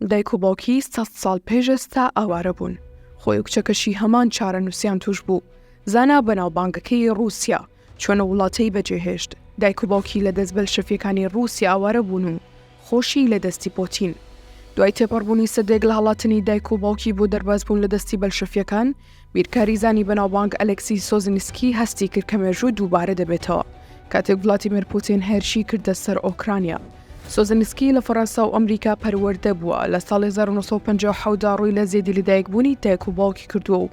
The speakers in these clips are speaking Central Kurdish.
دایک و باوکی سە ساڵ پێش ئێستا ئاوارە بوون خۆی و کچەکەشی هەمان چارە نووسیان توش بوو زانا بەناوبانگەکەی رووسیا چۆنە وڵاتەی بەجێهێشت دایک و باوکی لە دەست بەل شەفیەکانی رووسی ئاوارە بوون و خۆشی لە دەستی پۆتین. دوای تێپەڕبوونی سەدەیەک لە هەڵاتنی دایک و باوکی بۆ دەربازبوون لە دەستی بەلشەفییەکان، بیرکاریزانی بەناوبانگ ئەلێکسی سۆزنسکی هەستی کرد کە مێژوو دووبارە دەبێتەوە کاتێک ڤلادیمێر پوتین هێرشی کردە سەر ئۆکرانیا. سۆزنسکی لە فەرەنسا و ئەمریکا پەروەردە بووە، لە ساڵی هەزار و نۆ سەد و پەنجا و حەوت دا ڕووی لە زێدی لەدایکبوونی دایک و باوکی کردووە و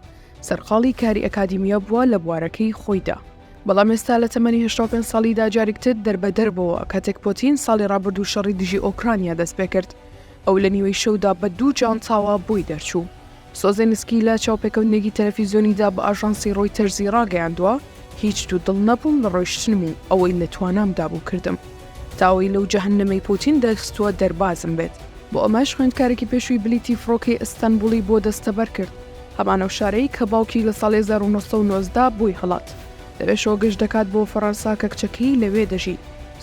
سەرقاڵی کاری ئەکادیمییە بووە لە بوارەکەی خۆیدا. بەڵام ئێستا لە تەمەنی هەشتا و پێنج ساڵیدا جاریک تر دەربەدەر بۆوە، کاتێک پۆتین ساڵی ڕابردوو شەڕی دژی ئۆکرانیا دەست پێ کرد، ئەو لە نیوەی شەودا بە دوو جانتاوە بۆی دەرچوو. سۆزێنسکی لە چاوپێکەوتنێکی تەلەفیزیۆنیدا بە ئاژانسی ڕۆیتەرزی ڕاگەیاندووە، هیچ دوو دڵ نەبووم لە ڕۆیشتنم و ئەوەی لە توانامدا بوو کردم، تا ئەوەی لەو جەهەننەمەی پۆتین دەرخستووە دەربازم بێت. بۆ ئەمەش خوێندکارێکی پێشووی بلیتی فڕۆکەی ئەستەنبوڵی بۆ دەستەبەر کرد. هەمان ئەو شارەی کە باوکی لە ساڵی هەزار و نۆ سەد و نۆزدە بووی هەڵات لەوێشەوە گەشت دەکات بۆ فەڕەنسا کە کچەکەی لەوێ دەژی.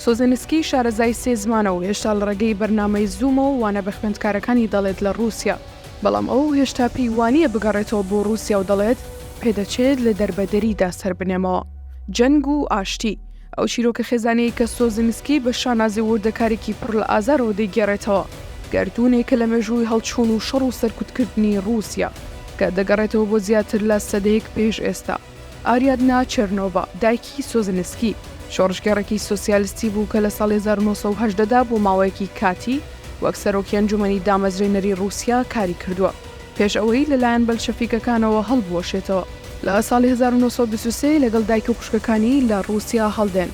سوزنسکی شارەزای سێ زمانە و هێشتا لە ڕێگەی بەرنامەی زوومەوە وانە بە خوێندکارەکانی دەڵێت لە ڕووسیا، بەڵام ئەو هێشتا پێی وانییە بگەڕێتەوە بۆ ڕووسیا و دەڵێت، پێدەچێت لە دەربەدەریدا سەربنێمەوە. جەنگ و ئاشتی. ئەو چیرۆکە خێزانیەی کە سۆزیمسکی بە شانازی و وردەکاریکی پڕ لە ئازارەوە دەیگێڕێتەوە، گەردوونێکە لە مێژووی هەڵچوون و شەڕ و سەرکوتکردنی ڕووسیا، کە دەگەڕێتەوە بۆ زیاتر لە سەدەیەک پێش ئێستا. ئاریادنا چێرنۆڤا، دایکی سۆزیمسکی، شۆڕشگێڕێکی سۆسیالستی بوو کە لە ساڵی هەزار و نۆ سەد و هەژدە دا بۆ ماوەیەکی کاتی وەک سەرۆکی ئەنجومەنی دامەزرێنەری ڕووسیا کاری کردووە. پێش ئەوەی لەلایەن بەلشەفیکەکانەوە هەڵبوەشێتەوە. لە ساڵی هەزار و نۆ سەد و بیست و سێ لەگەڵ دایک و خوشکەکانی لە ڕووسیا هەڵدێن.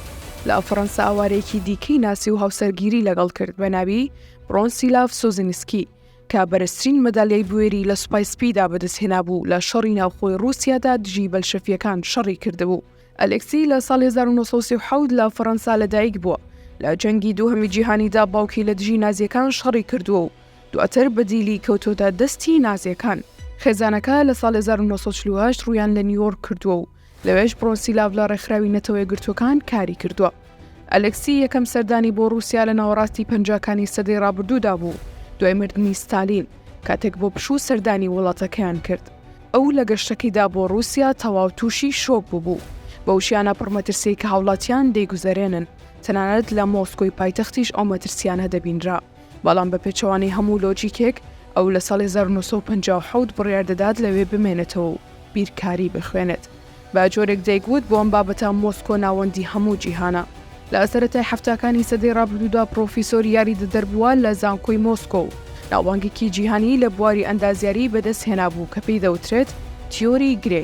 لە فەڕەنسا ئاوارەیەکی دیکەی ناسی و هاوسەرگیری لەگەڵ کرد بە ناوی برۆنسیلاڤ سوزینسکی کە بەرزترین مەدالیای بوێری لە سوپای سپیدا بەدەستهێنابوو لە شەڕی ناوخۆی ڕووسیادا دژی بەلشەفیەکان شەڕی کردبوو. ئەلێکسی لە ساڵی هەزار و نۆ سەد و سی و حەوت لە فەڕەنسا لەدایک بووە، لە جەنگی دووهەمی جیهانیدا باوکی لە دژی نازییەکان شەڕی کردووە و دواتر بە دیلی کەوتۆتە دەستی نازییەکان. خێزانەکە لە ساڵی هەزار و نۆ سەد و چل و هەشت ڕوویان لە نیویۆرک کردووە و لەوێش بڕۆنسیلاڤ لە ڕێکخراوی نەتەوە یەکگرتووەکان کاری کردووە. ئەلێکسی یەکەم سەردانی بۆ ڕووسیا لە ناوەڕاستی پەنجاکانی سەدەی ڕابردوودا بوو دوای مردنی ستالین کاتێک بۆ پشوو سەردانی وڵاتەکەیان کرد ئەو لە گەشتەکەیدا بۆ ڕووسیا تەواو تووشی شۆک ببوو بەو شیانە پڕمەترسیی کە هاوڵاتیان دەیگوزەرێنن تەنانەت لە مۆسکۆی پایتەختیش ئەو مەترسیانە دەبینرا. بەڵام بە پێچەوانەی هەموو لۆجیکێک، ئەو لە ساڵی هەزار و نۆ سەد و پەنجا و حەوت بڕیار دەدات لەوێ بمێنێتەوە و بیرکاری بخوێنێت. بە جۆرێک دەیگوت بۆ ئەم بابەتە مۆسکۆ ناوەندی هەموو جیهانە. لە سەرەتای حەفتاکانی سەدەی ڕابردوودا پڕۆفیسۆری یاریدەدەر بووە لە زانکۆی مۆسکۆ و ناوبانگێکی جیهانی لە بواری ئەندازیاری بەدەست هێنابوو کە پێی دەوترێت تیۆری گرێ.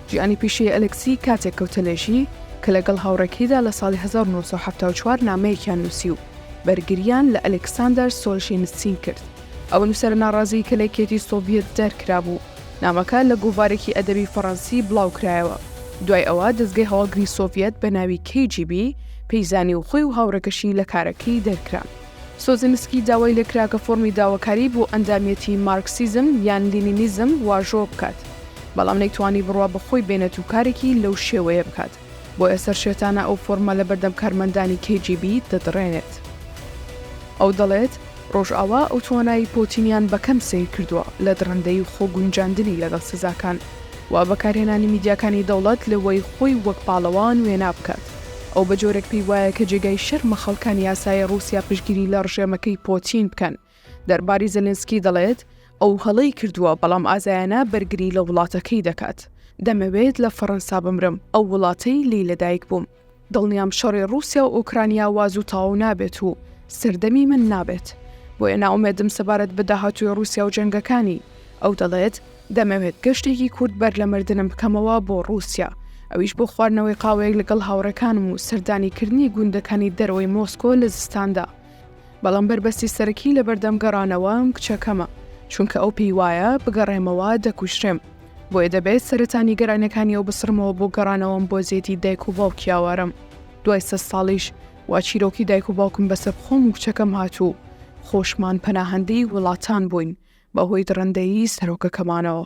ژیانی پیشەیی ئەلێکسی کاتێک کەوتە لێژی کە لەگەڵ هاوڕێکەیدا لە ساڵی هەزار و نۆ سەد و حەفتا و چوار نامەیەکیان نووسی و بەرگرییان لە ئەلێکساندەر سۆلژینسین کرد، ئەو نووسەرە ناڕازیی کە لە یەکێتی سۆڤیەت دەرکرابوو. نامەکە لە گۆڤارێکی ئەدەبی فەڕەنسی بڵاوکرایەوە. دوای ئەوە دەزگەی هەواڵگری سۆڤیەت بە ناوی کەی جی بی پێی زانی و خۆی و هاوڕێکەشی لە کارەکەی دەرکران. سۆزینسکی داوای لێ کرا کە فۆرمی داواکاری بۆ ئەندامیەتی مارکسیزم یان لینینیزم واژۆ بکات، بەڵام نەیتوانی بڕوا بە خۆی بێنێت و کارێکی لەو شێوەیە بکات. بۆیە سەرشێتانە ئەو فۆڕمە لەبەردەم کارمەندانی کەی جی بی دەدڕێنێت. ئەو دەڵێت، ڕۆژئاوا ئەو توانای پۆتینیان بە کەم سەیر کردووە لە دڕندەیی و خۆگونجاندنی لەگەڵ سزاکان و بەکارهێنانی میدیاکانی دەوڵەت لەوەی خۆی وەک پاڵەوان وێنا بکات، ئەو بە جۆرێک پێی وایە کە جێگای شەرمە خەڵکانی ئاسایی ڕووسیا پشتگیری لە ڕژێمەکەی پۆتین بکەن. دەرباری زێلێنسکی دەڵێت، ئەو هەڵەی کردووە، بەڵام ئازایانە بەرگری لە وڵاتەکەی دەکات. دەمەوێت لە فەڕەنسا بمرم، ئەو وڵاتەی لێی لەدایکبووم. دڵنیام شەڕی ڕووسیا و ئۆکرانیا وا زوو تەواو نابێت و سەردەمی من نابێت. بۆیە نائومێدم سەبارەت بە داهاتووی ڕووسیا و جەنگەکانی. ئەو دەڵێت، دەمەوێت گەشتێکی کورت بەر لە مردنم بکەمەوە بۆ ڕووسیا، ئەویش بۆ خواردنەوەی قاوەیەک لەگەڵ هاوڕێکانم و سەردانیکردنی گوندەکانی دەرەوەی مۆسکۆ لە زستاندا. بەڵام بەربەستی سەرەکی لەبەردەم گەڕانەوەم کچەکەمە، چونکە ئەو پێی وایە بگەڕێمەوە دەکوژرێم، بۆیە دەبێت سەرەتا نیگەرانیەکانی ئەو بسڕمەوە بۆ گەڕانەوەم بۆ زێدی دایک و باوکی ئاوارەم، دوای سەد ساڵیش وا چیرۆکی دایک و باوکم بەسەر خۆم و کچەکەم هات و خۆشمان پەناهەندەی وڵاتان بووین بەهۆی دڕندەیی سەرۆکەکەمانەوە.